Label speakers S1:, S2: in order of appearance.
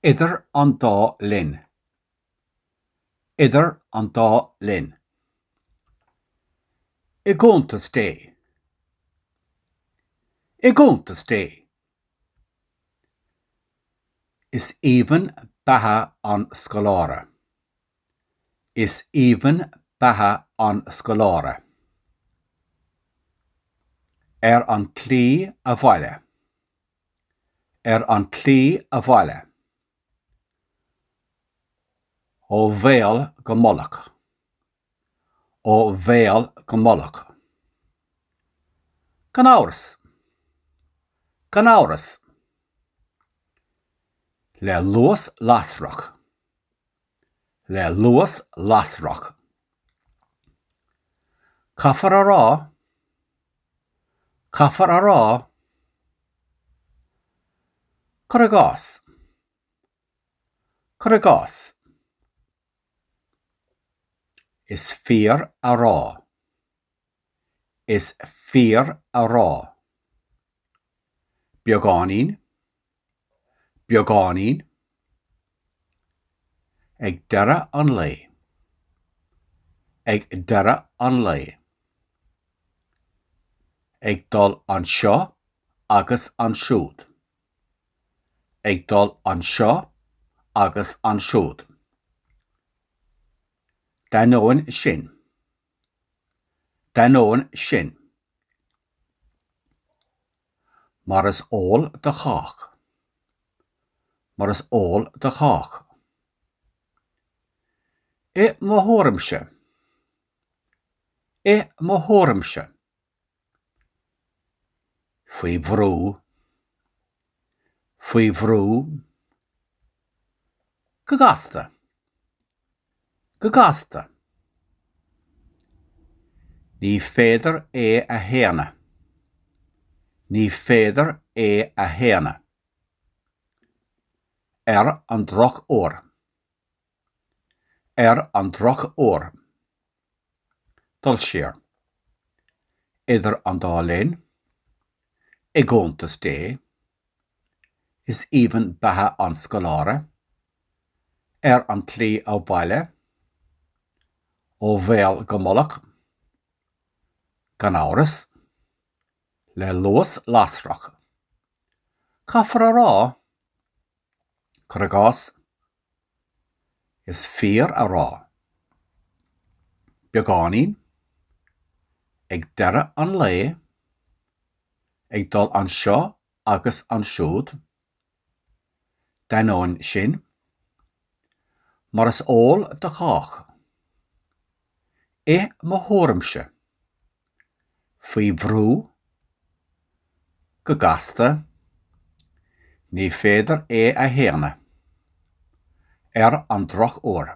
S1: Idir an dá linn. Idir an dá linn. I gcuntas Dé. I gcuntas Dé. Is aoibhinn beatha an scoláire. Is aoibhinn beatha an scoláire. Ar an tslí abhaile. Ar an tslí abhaile. Ó bhéal go mullach. Ó bhéal go mullach. Gan amhras. Gan amhras. Le luas lasrach. le luas lasrach. Caithfear a rá, caithfear a rá, cuir i gcás, cuir i gcás, is fíor a rá, is fíor a rá, beagáinín, beagáinín, ag deireadh an lae, ag deireadh an lae, ag dul anseo agus ansiúd, ag dul anseo agus ansiúd, d'ainneoin sin. D'ainneoin sin, mar is eol do chách, mar is eol do chách, i mo thuairimse, i mo thuairimse, faoi bhrú, faoi bhrú, go gasta, go gasta, ní féidir é a shéanadh, ní féidir é a shéanadh, ar an drochuair. Ar an drochuair, dul siar, idir an dá linn, i gcuntas Dé, is aoibhinn beatha an scoláire, ar an tslí abhaile, ó bhéal go mullach, gan amhras, le luas lasrach, caithfear a rá. cuir i gcás, is fíor a rá, beagáinín, ag deireadh an lae, ag dul anseo agus ansiúd, d'ainneoin sin, mar is eol do chách. i mo thuairimse. Faoi bhrú? Go gasta? Ní féidir é a shéanadh. Ar an drochuair.